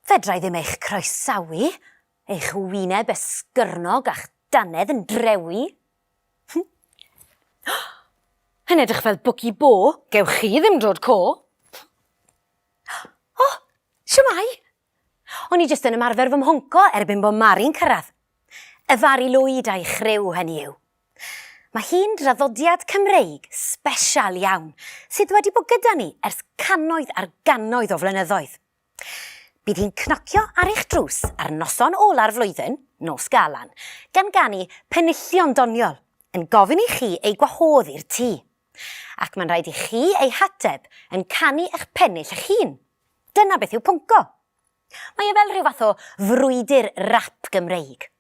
Fedrai ddim eich croesawu, eich wyneb esgyrnog a'ch dannedd yn drewi. Yn edrych fel bwci bo. Gewch chi ddim dod co. O, siwmai! O'n i jyst yn ymarfer fy mhonco erbyn bod Mari'n cyrraedd. Y Fari Lwyd a'i chriw, hynny yw. Mae hi'n draddodiad Cymreig sbesial iawn sydd wedi bod gyda ni ers cannoedd ar gannoedd o flynyddoedd. Bydd hi'n cnocio ar eich drws ar noson ola'r flwyddyn, Nos Galan, gan ganu penillion doniol, yn gofyn i chi ei gwahodd i'r tŷ. Ac mae'n rhaid i chi ei hateb yn canu eich pennill eich hun. Dyna beth yw pwnco. Mae e fel rhyw fath o frwydr rap Gymreig.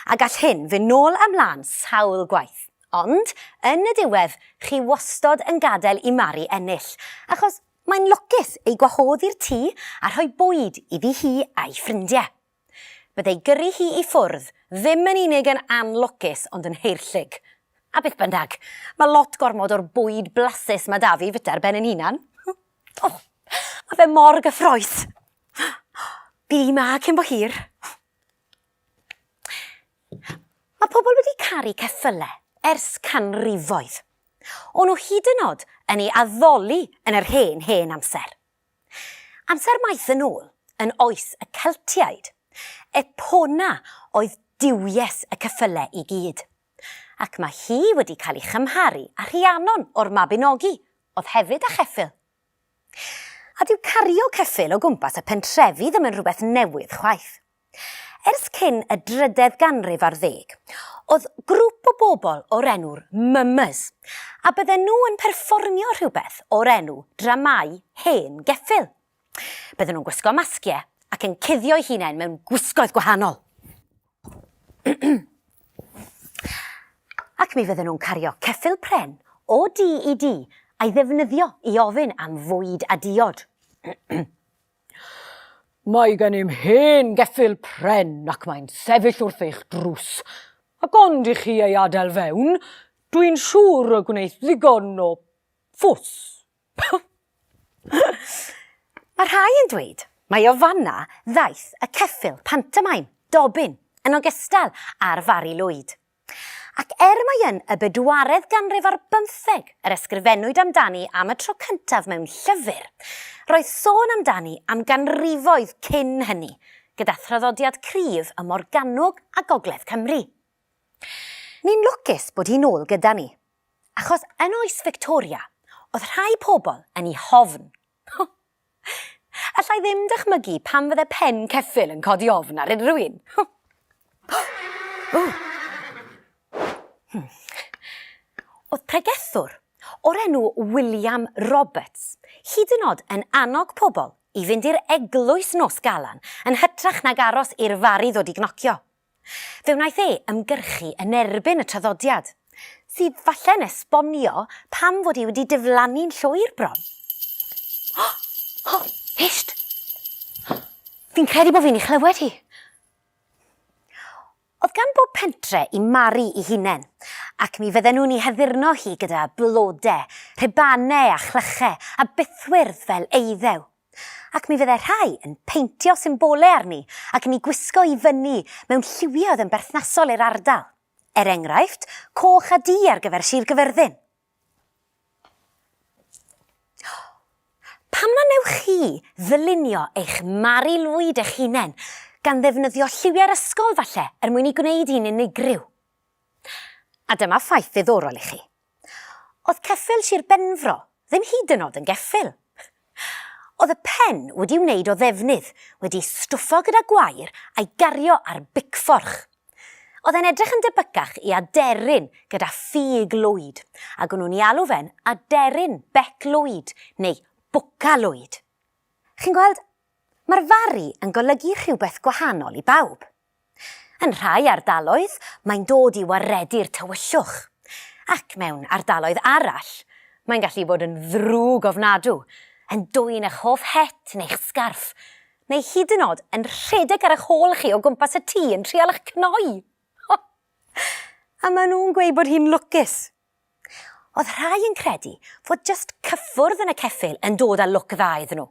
A gall hyn fyn nôl a mlan sawl gwaith. Ond, yn y diwedd, chi wastod yn gadael i Mari ennill, achos mae'n lwcus ei gwahodd i'r tŷ a rhoi bwyd iddi hi a'i ffrindie. Bydd ei gyrru hi i ffwrdd ddim yn unig yn anlwcus ond yn haerllug. A beth bynnag, mae lot gormod o'r bwyd blasus mae 'da fi fita ar ben yn hunan. O, mae fe mor gyffroes! Bydd hi 'ma cyn bo hir. Mae pobl wedi caru ceffylau ers canrifoedd. O'n nhw hyd yn oed yn ei addoli yn yr hen, hen amser. Amser maith yn ôl, yn oes y Celtiaid. Epona oedd duwies y ceffylau i gyd. Ac mae hi wedi cael ei chymharu â Rhiannon o'r Mabinogi, oedd hefyd â cheffyl. A dyw cario ceffyl o gwmpas y pentrefi ddim yn rhywbeth newydd chwaith. Ers cyn y drydedd ganrif ar ddeg, oedd grŵp o bobl o'r enw'r 'Mummers', a bydden nhw yn perfformio rhywbeth o'r enw 'Dramâu Hen Geffyl'. Bydden nhw'n gwisgo masgiau ac yn cuddio'u hunain mewn gwisgoedd gwahanol. Ac mi fydden nhw'n cario ceffyl pren o dŷ i dŷ a'i ddefnyddio i ofyn am fwyd a diod. Mae gennym hen geffyl pren ac mae'n sefyll wrth eich drws, ac ond i chi ei adael fewn, dwi'n siŵr y gwneith ddigon o fws. Mae rhai yn dweud mai o fanna ddaeth y ceffyl pantomaim, Dobbin, yn ogystal â'r Fari Lwyd. Ac er mai yn y bedwaredd ganrif ar bymtheg yr ysgrifennwyd amdani am y tro cyntaf mewn llyfr, roedd sôn amdani am ganrifoedd cyn hynny, gyda thraddodiad cryf ym Morgannwg a gogledd Cymru. Ni'n lwcus bod hi'n ôl gyda ni, Achos yn oes Victoria, oedd rhai pobl yn ei hofn. Allai ddim dychmygu pam fydde pen ceffyl yn codi ofn ar unrhyw un. Hmm. Oedd pregethwr o'r enw William Roberts hyd yn oed yn annog pobl i fynd i'r eglwys nos galan yn hytrach nag aros i'r fari ddod i gnocio. Fe wnaeth e ymgyrchu yn erbyn y traddodiad, sydd falle'n esbonio pam fod hi wedi diflannu'n llwyr bron. O! O! Hysht! Fi'n credu bod fi'n ei chlywed hi. Oedd gan bob pentre i Mari i hunen, ac mi fydden nhw'n ei haddurno hi gyda blode, rhubanau a chlychau a bythwyrdd fel eiddew. Ac mi fydde rhai yn peintio symbole arni ac yn eu gwisgo i fyny mewn lliwiau oedd yn berthnasol i'r ardal. Er enghraifft, coch a du ar gyfer Sir Gyfyrddin. Pam na wnewch chi ddylunio eich Mari Lwyd eich hunain, gan ddefnyddio lliwiau'r ysgol falle, er mwyn ei gwneud hi'n unigryw? A dyma ffaith ddiddorol i chi. Oedd ceffyl Sir Benfro ddim hyd yn oed yn geffyl. Oedd y pen wedi'i wneud o ddefnydd, wedi'i stwffo gyda gwair a'i gario ar bicfforch. Oedd e'n edrych yn debycach i aderyn gyda ffug Lwyd, ac o'n nhw'n 'i alw fe'n aderyn bec Lwyd, neu bwca Lwyd. Chi'n gweld, mae'r Fari yn golygu rhywbeth gwahanol i bawb. Yn rhai ardaloedd mae'n dod i waredu'r tywyllwch, ac mewn ardaloedd arall mae'n gallu bod yn ddrwg ofnadw, yn dwyn eich hoff het neu'ch sgarff, neu hyd yn o'd yn rhedeg ar eich hôl chi o gwmpas y tŷ yn trial eich cnoi! O! A maen nhw'n gweud bod hi'n lwcus! Oedd rhai yn credu fod jyst cyffwrdd yn y ceffyl yn dod â lwc dda iddyn nhw.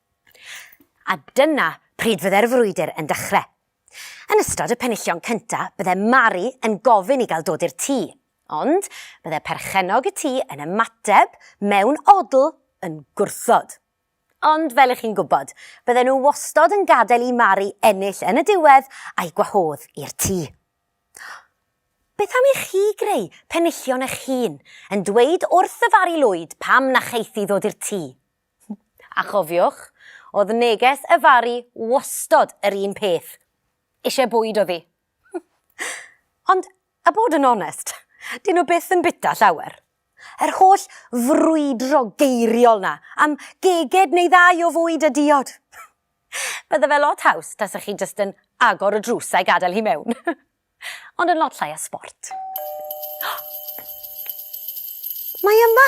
A dyna pryd fydde'r frwydr yn dechre. Yn ystod y penillion cynta bydde Mari yn gofyn i gael dod i'r tŷ, ond bydde perchennog y tŷ yn ymateb mewn odl yn gwrthod. Ond fel 'ych chi'n gwybod, bydden nhw wastod yn gadael i Mari ennill yn y diwedd a'i gwahodd i'r tŷ. Beth am i chi greu penillion 'ych hun, yn dweud wrth y Fari Lwyd pam na cheiff hi ddod i'r tŷ? A chofiwch, o'dd neges y Fari wastod yr un peth, isie bwyd o'dd 'i. Ond, a bod yn onest, 'dyn nhw byth yn bita llawer. Yr holl frwydro geiriol 'na am geged neu ddau o fwyd a diod! Bydde fe lot haws tasech chi jyst yn agor y drws a'i gadael hi mewn. Ond yn lot llai o sbort. Mae yma!